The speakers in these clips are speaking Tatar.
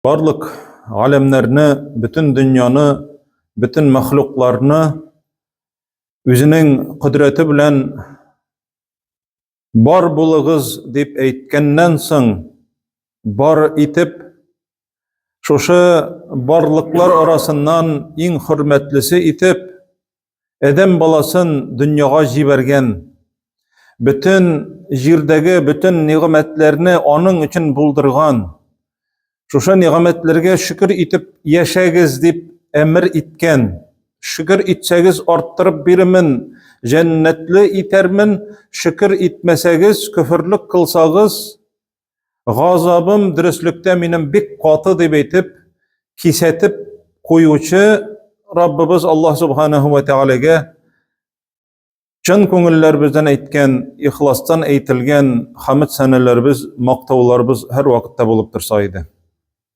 Барлык галәмнәрне, бөтен дөньяны, бөтен мәхлукларны үзенең кодрәте белән бар булыгыз дип әйткәннән соң бар итеп шушы барлыклар арасыннан иң хөрмәтлесе итеп Адәм баласын дөньяга җибәргән, бөтен җирдәге бөтен нигъмәтләрне аның өчен булдырган, шушы нигъмәтләргә шөкер итеп яшәгез дип әмер иткән. Шөкер итсәгез, арттырып бирмен, җәннәтле итәрмен, шөкер итмәсәгез, көферлек кылсагыз, Газабым дөреслектә минем бик каты дип әйтеп, кисәтеп куючы Раббыбыз Аллаһ Субханаһу ва Тәгаләгә чын күңелләребездән әйткән, ихластан әйтелгән хамид сәнәләребез, мактауларыбыз һәр вакытта булып торса иде.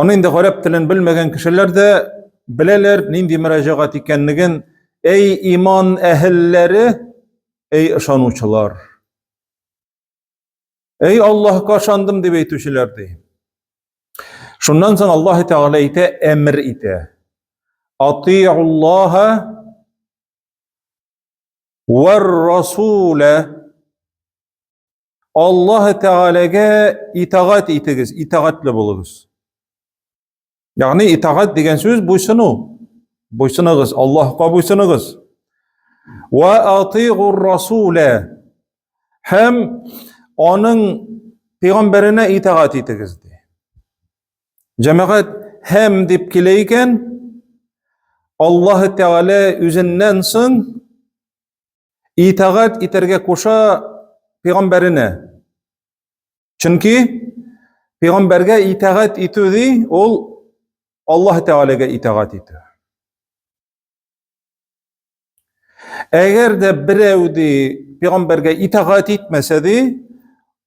Аны инде гарәп телен белмәгән кешеләр дә беләләр, нинди мөрәҗәгать икәнлеген. Әй иман әһелләре, әй ышанучылар. Әй Аллаһка ышандым дип әйтүчеләр ди. Шуннан соң Аллаһ Тәгалә әйтә, әмер итә. Атиуллаһа вар расула Аллаһ Тәгаләгә итагать итегез, итагатле булыгыз. Ягъни итагать дигән сүз буйсыну. Буйсыныгыз, Аллаһка буйсыныгыз. Ва атигур расула. Һәм аның пәйгамбәренә итагать итегез ди. Җәмәгать һәм дип килә икән, Аллаһ Тәгалә үзеннән соң итагать итәргә куша пәйгамбәренә. Чөнки пәйгамбәргә итагать итү ди, ул Аллаһ Тәгаләгә итагать итү. Әгәр дә берәү ди пәйгамбәргә итагать итмәсә ди,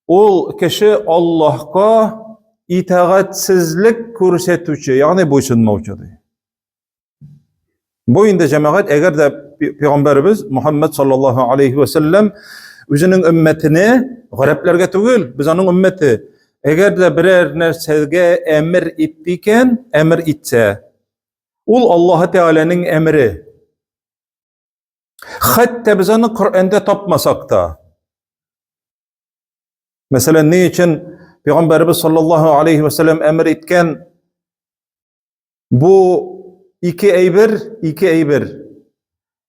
ул кеше Аллаһка итагатьсезлек күрсәтүче, ягъни буйсынмаучы ди. Бу инде җәмәгать, әгәр дә пәйгамбәребез Мухаммад саллаллаһу алейхи ва саллям үзенең өммәтенә гарәпләргә түгел, без аның өммәте. Әгәр дә берәр нәрсәгә әмер итте икән, әмер итсә, ул Аллаһ Тәгаләнең әмере. Хәтта без аны Коръәндә тапмасак та. Мәсәлән, ни өчен пәйгамбәребез саллаллаһу алейхи ва саллям әмер иткән Бу ике әйбер, ике әйбер.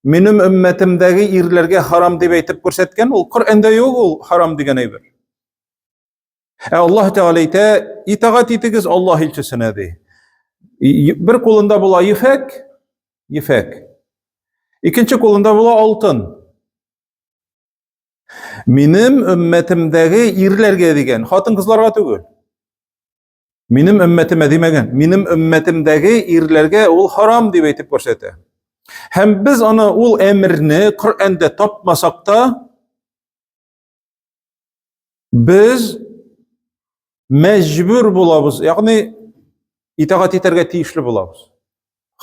Минем өммәтемдәге ирләргә харам дип әйтеп күрсәткән, ул Коръәндә юк ул харам дигән әйбер. Ә Аллаһ Тәгалә әйтә, итагать итегез Аллаһ илчесенә ди. Бер кулында була ефәк, ефәк. Икенче кулында була алтын. Минем өммәтемдәге ирләргә дигән, хатын-кызларга түгел. Минем өммәтемә димәгән, минем өммәтемдәге ирләргә ул харам дип әйтеп күрсәтә. Һәм без аны ул әмерне Коръәндә тапмасак та, без мәҗбүр булабыз, ягъни итагать итәргә тиешле булабыз.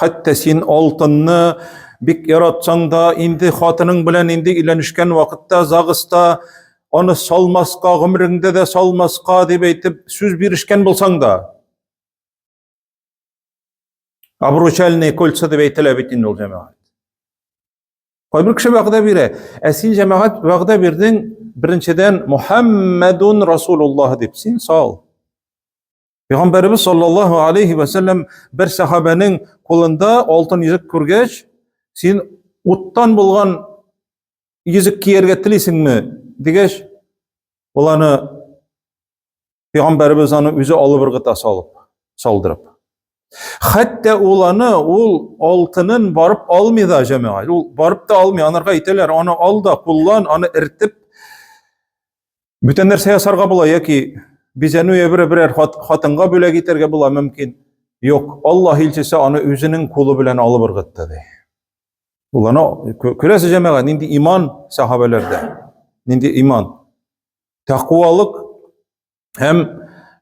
Хәтта син алтынны бик яратсаң да, инде хатының белән инде өйләнешкән вакытта загыста аны салмаска, гомереңдә дә салмаска дип әйтеп сүз бирешкән булсаң да. Обручальные кольца дип әйтелә бит инде ул җәмәгать. Кайбер кеше вәгъдә бирә, ә син җәмәгать вәгъдә бирдең, беренчедән Мухаммадун Расулуллаһ дип син сал. Пәйгамбәрбез саллаллаһу алейхи ва сәлләм бер сахабәнең кулында алтын йөзек күргәч, син уттан булган йөзек кияргә телисеңме? дигәч, ул аны Пәйгамбәрбез аны үзе алып ыргыта салып, салдырып. Хәтта ул аны, ул алтынын барып алмый да җәмәгать. Ул барып та алмый, анарга әйтәләр, аны ал да, куллан, аны иртеп Бүтән нәрсә ясарга була яки бизәнү я бер берәр хатынга бүләк итәргә була мөмкин. Юк, Аллаһ илчесе аны үзенең кулы белән алып ыргытты ди. Ул аны күрәсе җәмәгать нинди иман сахабәләрдә. Нинди иман. Тәкъвалык һәм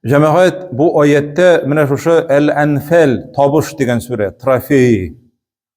җәмәгать бу аятта менә шушы Әл-Анфал табыш дигән сүрә, трофей.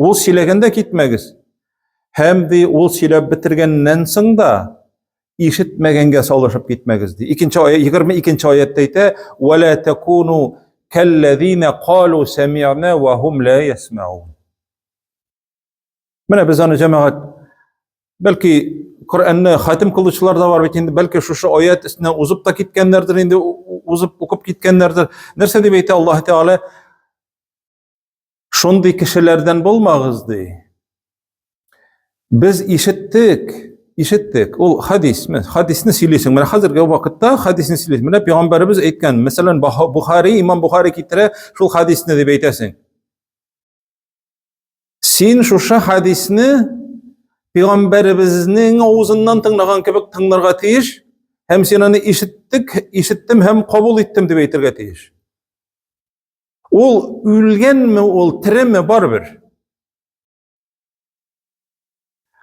Ул сөйләгәндә китмәгез. Һәм ди, ул сөйләп бетергәннән соң да ишетмәгәнгә салышып китмәгез ди. Икенче аят 22-нче аятта әйтә: "Ва ла такуну каллазина калу сами'на ва хум ла ясмаун". Менә без аны җәмәгать бәлки Коръәнне хатим кылучылар да бар бит инде, бәлки шушы аят өстенә узып та киткәннәрдер инде, узып укып киткәннәрдер. Нәрсә дип әйтә Аллаһ Тәгалә? Шундый кешеләрдән булмагыз, ди. Без ишеттек, ишеттек. Ул хадис, мен хадисны сөйлисең. Менә хәзерге вакытта хадисны сөйлисең. Менә пәйгамбәребез әйткән, мәсәлән, Бухари, имам Бухари китерә, шул хадисны дип әйтәсең. Син шушы хадисны пәйгамбәребезнең авызыннан тыңлаган кебек тыңларга тиеш, һәм син аны ишеттек, ишеттем һәм кабул иттем дип әйтергә тиеш. Ул үлгәнме, ул тереме барыбер.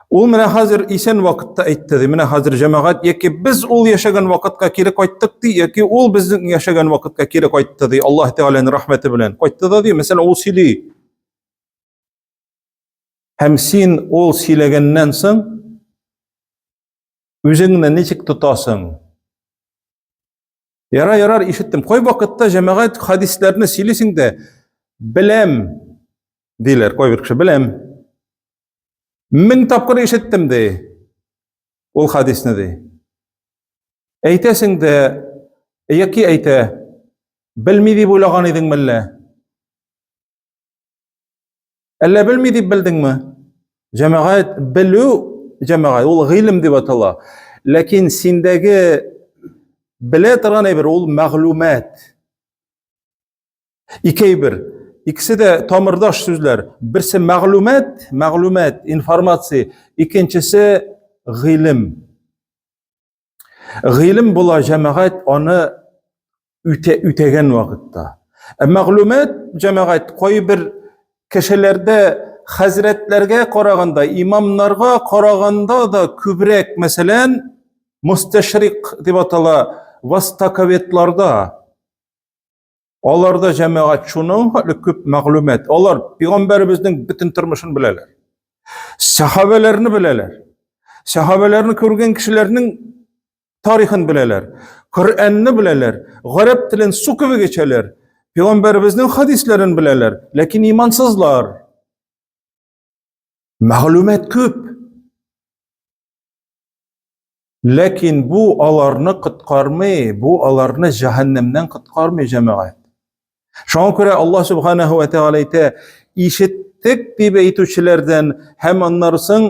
Ул менә хәзер исән вакытта әйтте ди, менә хәзер җәмәгать яки без ул яшәгән вакытка кире кайттык ди, яки ул безнең яшәгән вакытка кире кайтты ди, Аллаһ Тәгаләнең рәхмәте белән. Кайтты да ди, мәсәлән, ул сөйли. Һәм син ул сөйләгәннән соң үзеңне ничек тотасың? Яра, ярар, ишеттем. Кой вакытта җәмәгать хадисләрне сөйлисең дә, беләм, диләр, кой бер кеше, беләм. Мең тапкыр ишеттем, ди, ул хадисны, ди. Әйтәсең дә, яки әйтә, белми дип уйлаган идең мәллә? Әллә белми дип белдеңме? Җәмәгать белү җәмәгать ул гыйлем дип атала. Ләкин синдәге белә торган әйбер ул мәгълүмат. Ике әйбер. Икесе дә тамырдаш сүзләр. Берсе мәгълүмат, мәгълүмат, информация, икенчесе гыйлем. Гыйлем була җәмәгать аны үтә, үтәгән вакытта. Ә мәгълүмат җәмәгать кайбер кешеләрдә хәзрәтләргә караганда, имамнарга караганда да күбрәк, мәсәлән, мусташрик дип атала, востоковедларда Аларда җәмәгать шуның хәтле күп мәгълүмат. Алар пигамбәребезнең бөтен тормышын беләләр. Сәхабәләрне беләләр. Сәхабәләрне күргән кешеләрнең тарихын беләләр. Коръәнне беләләр. Гарәп телен су кебек эчәләр. Пигамбәребезнең хадисләрен беләләр, ләкин имансызлар. Мәгълүмат күп. Ләкин бу аларны коткармый, бу аларны җәһәннәмнән коткармый, җәмәгать. Шуңа күрә Аллаһ субханаһу ва тагала әйтә, ишеттек дип әйтүчеләрдән һәм аннары соң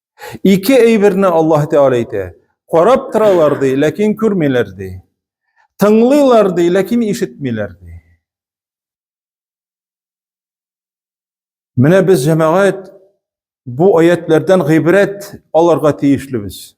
Ике әйберне Аллаһ Тәгалә әйтә. Карап торалар ди, ләкин күрмиләр ди. Тыңлыйлар ди, ләкин ишетмиләр ди. Менә без җәмәгать бу аятлардан гыйбрәт алырга тиешлебез.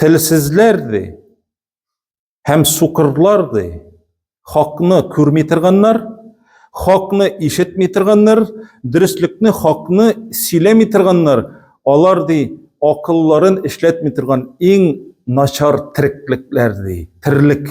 телсезләр ди һәм сукырлар ди. Хакны күрми торганнар, хакны ишетми торганнар, дөреслекне, хакны сөйләми торганнар, алар ди акылларын эшләтми торган иң начар тереклекләр ди. Терлек.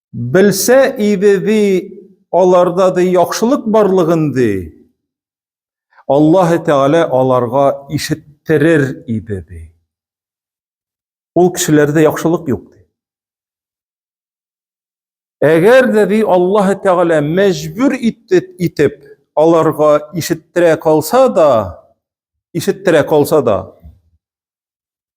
Белсә иде ди, аларда ди яхшылык барлыгын ди. Аллаһы Тәгалә аларга ишеттерер иде ди. Ул кешеләрдә яхшылык юк ди. Әгәр дә ди Аллаһы Тәгалә мәҗбүр итеп, итеп аларга ишеттерә калса да, ишеттерә калса да,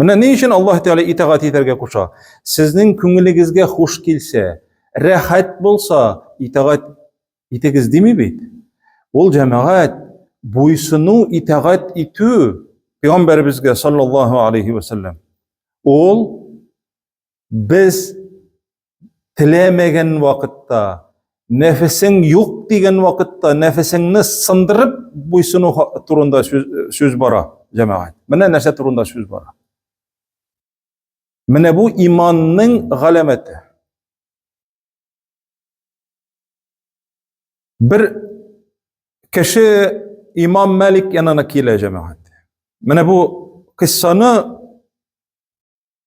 Менә ни өчен Аллаһ Тәгалә итагать итәргә куша. Сезнең күңелегезгә хуш килсә, рәхәт булса, итагать итегез дими бит. Ул җәмәгать буйсыну, итагать итү пәйгамбәребезгә саллаллаһу алейхи ва саллям. Ул Без теләмәгән вакытта, нәфесең юк дигән вакытта, нәфесеңне сындырып буйсыну турында сүз бара, җәмәгать. Менә нәрсә турында сүз бара. Менә бу иманның галәмәте. Бер кеше имам Мәлик янына килә, җәмәгать. Менә бу кыссаны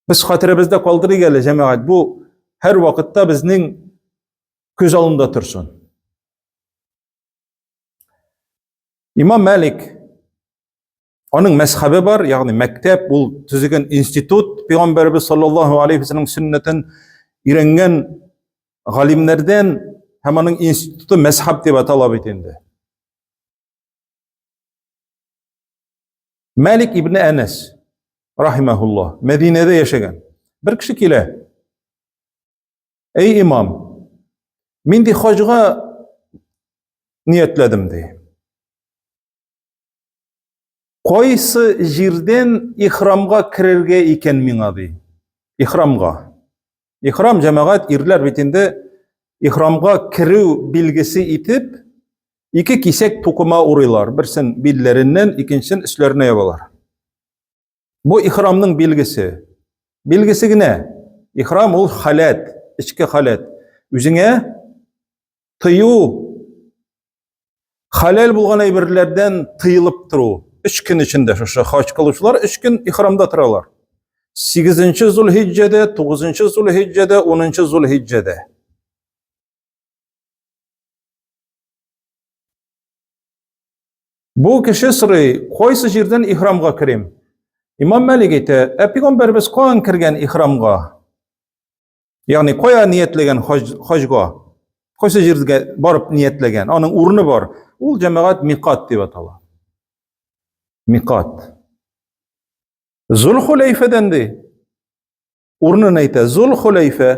Без хәтеребездә калдырыйк әле, җәмәгать, бу һәр вакытта безнең күз алдында торсын. Имам Мәлик аның мәзхәбе бар, ягъни мәктәп, ул төзегән институт, пәйгамбәрбез саллаллаһу алейхи ва саллям сөннәтен өйрәнгән галимнәрдән һәм аның институты мәзхәб дип атала бит инде. Мәлик ибн Әнәс, рахимәһулла, Мәдинәдә яшәгән. Бер кеше килә. Әй имам, мин ди хаҗга ниятләдем ди. Кайсы җирдән ихрамга керергә икән миңа ди? Ихрамга. Ихрам җәмәгать ирләр бит инде ихрамга керү билгесе итеп ике кисәк тукыма урыйлар. Берсен билләреннән, икенчен өсләренә ябалар. Бу ихрамның билгесе. Билгесе генә. Ихрам ул халәт, эчке халәт. Үзеңә тыю, хәләл булган әйберләрдән тыелып тору. Өч көн эчендә шушы хаҗ кылучылар өч көн ихрамда торалар. 8 Зулхиҗҗәдә, 9 Зулхиҗҗәдә, 10 Зулхиҗҗәдә. Бу кеше сорый, кайсы җирдән ихрамга керим? Имам Мәлик әйтә, ә пигамбәрбез каян кергән ихрамга? Ягъни кая ниятләгән хаҗга? Кайсы җиргә барып ниятләгән? Аның урыны бар. Ул җәмәгать микат дип атала. Микат. Зулхуләйфәдән ди. Урынын әйтә. Зулхуләйфә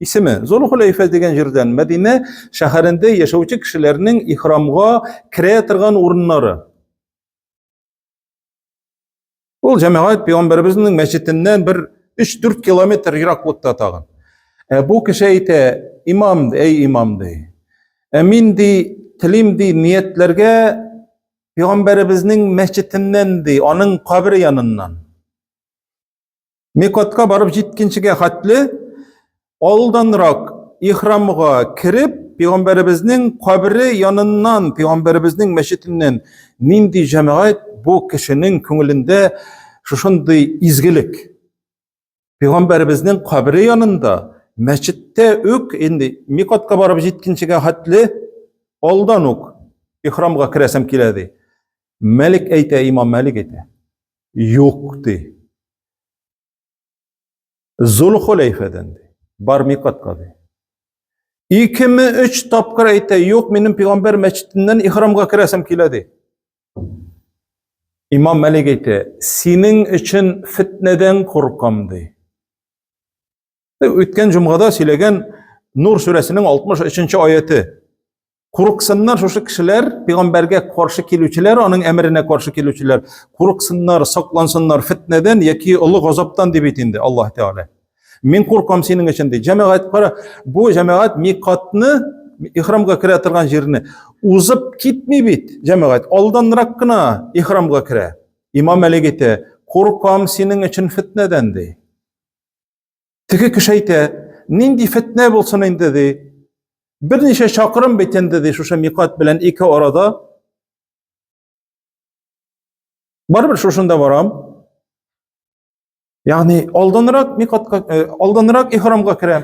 исеме. Зулхуләйфә дигән җирдән Мәдинә шәһәрендә яшәүче кешеләрнең ихрамга керә торган урыннары. Ул җәмәгать пәйгамбәребезнең мәчетеннән бер 3-4 километр ераклыкта тагын. Ә бу кеше әйтә, имам, әй имам ди. Ә мин ди, телим ди, ниятләргә пәйгамбәребезнең мәчетеннән ди, аның кабере яныннан. Мекотка барып җиткенчегә хәтле алданрак ихрамга кереп, пәйгамбәребезнең кабере яныннан, пәйгамбәребезнең мәчетеннән нинди җәмәгать бу кешенең күңелендә шушындый изгелек. Пәйгамбәребезнең кабере янында, мәчеттә үк инде микотка барып җиткенчегә хәтле алдан ук ихрамга керәсем килә ди. Мәлик әйтә, имам Мәлик әйтә. Юк, ди. Зул хуләйфәдән, ди. Бар микатка, ди. Икеме өч тапкыр әйтә, юк, минем пигамбәр мәчетеннән ихрамга керәсем килә, ди. Имам Мәлик әйтә, синең өчен фетнәдән куркам, ди. Үткән җомгада сөйләгән Нур сүрәсенең 63 нче аяты. Курыксыннар шушы кешеләр, пәйгамбәргә каршы килүчеләр, аның әмеренә каршы килүчеләр. Курыксыннар, саклансыннар фитнәдән яки олы газаптан дип әйтте инде Аллаһ Тәгалә. Мин куркам синең өчен ди. Җәмәгать кара, бу җәмәгать микатны, ихрамга керә торган җирне узып китми бит. Җәмәгать алданрак кына ихрамга керә. Имам әлеге әйтә, куркам синең өчен фитнәдән ди. Теге кеше әйтә, нинди фетнә булсын инде ди. Берничә чакрым бит инде ди, шушы микат белән ике арада. Барыбер шушында барам. Ягъни алданрак микатка, э, алданрак ихрамга керәм.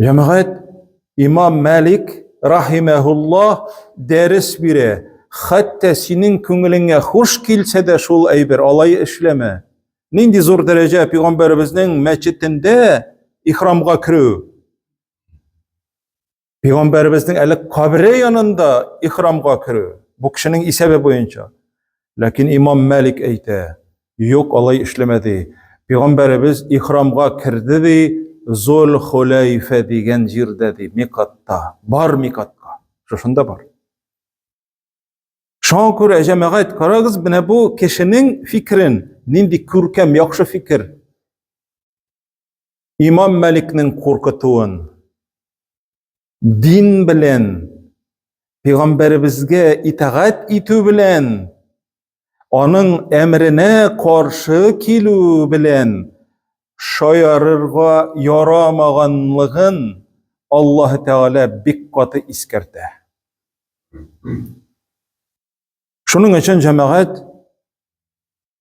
Җәмәгать Имам Мәлик рахимәһуллаһ дәрес бирә. Хәтта синең күңелеңә хуш килсә дә шул әйбер, алай эшләмә. Нинди зур дәрәҗә пәйгамбәребезнең мәчетендә ихрамга керү. Пәйгамбәребезнең әле кабре янында ихрамга керү, бу кешенең исәбе буенча. Ләкин имам Мәлик әйтә, юк, алай эшләмәде. Пәйгамбәребез ихрамга керде ди, Зул Хуләйфә дигән җирдә ди, микатта. Бар микатка. Шушында бар. Шуңа күрә җәмәгать, карагыз, менә бу кешенең фикрен, нинди күркәм, яхшы фикер. имам мәликнең куркытуын дин белән пәйгамбәребезгә итагать итү белән аның әмренә каршы килү белән шаярырга ярамаганлыгын Аллаһ Тәгалә бик каты искәртә. Шуның өчен җәмәгать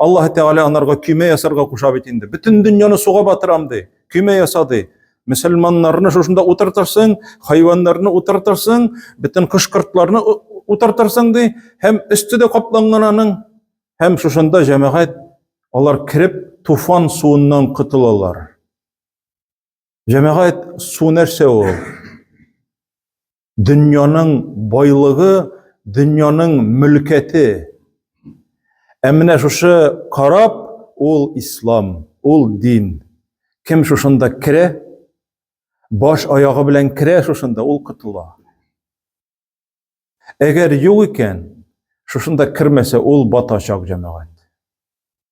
Аллаһ Тәгалә анарга көймә ясарга куша бит инде. Бөтен дөньяны суга батырам ди. Көймә яса ди. Мөселманнарны шушында утыртырсың, хайваннарны утыртырсың, бөтен кош-кортларны утыртырсың ди, һәм өсте дә капланган аның, һәм шушында җәмәгать алар кереп туфан суыннан котылалар. Җәмәгать су нәрсә ул? дөньяның байлыгы, дөньяның мөлкәте. Ә менә шушы карап ул ислам, ул дин. Кем шушында керә, баш аягы белән керә шушында, ул котыла. Әгәр юк икән, шушында кермәсә, ул батачак җәмәгать.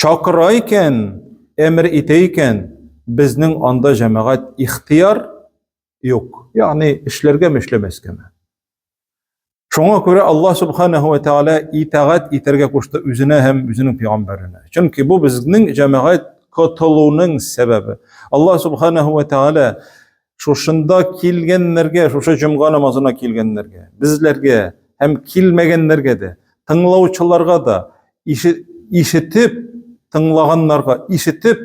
чакыра икән, әмер итә икән, безнең анда җәмәгать ихтыяр юк. Ягъни эшләргәме, эшләмәскәме. Шуңа күрә Аллаһ субханаһу ва тааля итагать итәргә кушты үзенә һәм үзенең пәйгамбәренә. Чөнки бу безнең җәмәгать котылуның сәбәбе. Аллаһ субханаһу ва тааля шушында килгәннәргә, шушы җомга намазына килгәннәргә, безләргә һәм килмәгәннәргә дә, тыңлаучыларга да, ишетеп, тыңлаганнарга, ишетеп,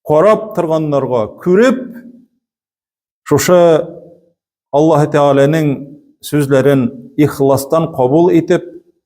карап торганнарга, күреп, шушы Аллаһы Тәгаләнең сүзләрен ихластан кабул итеп,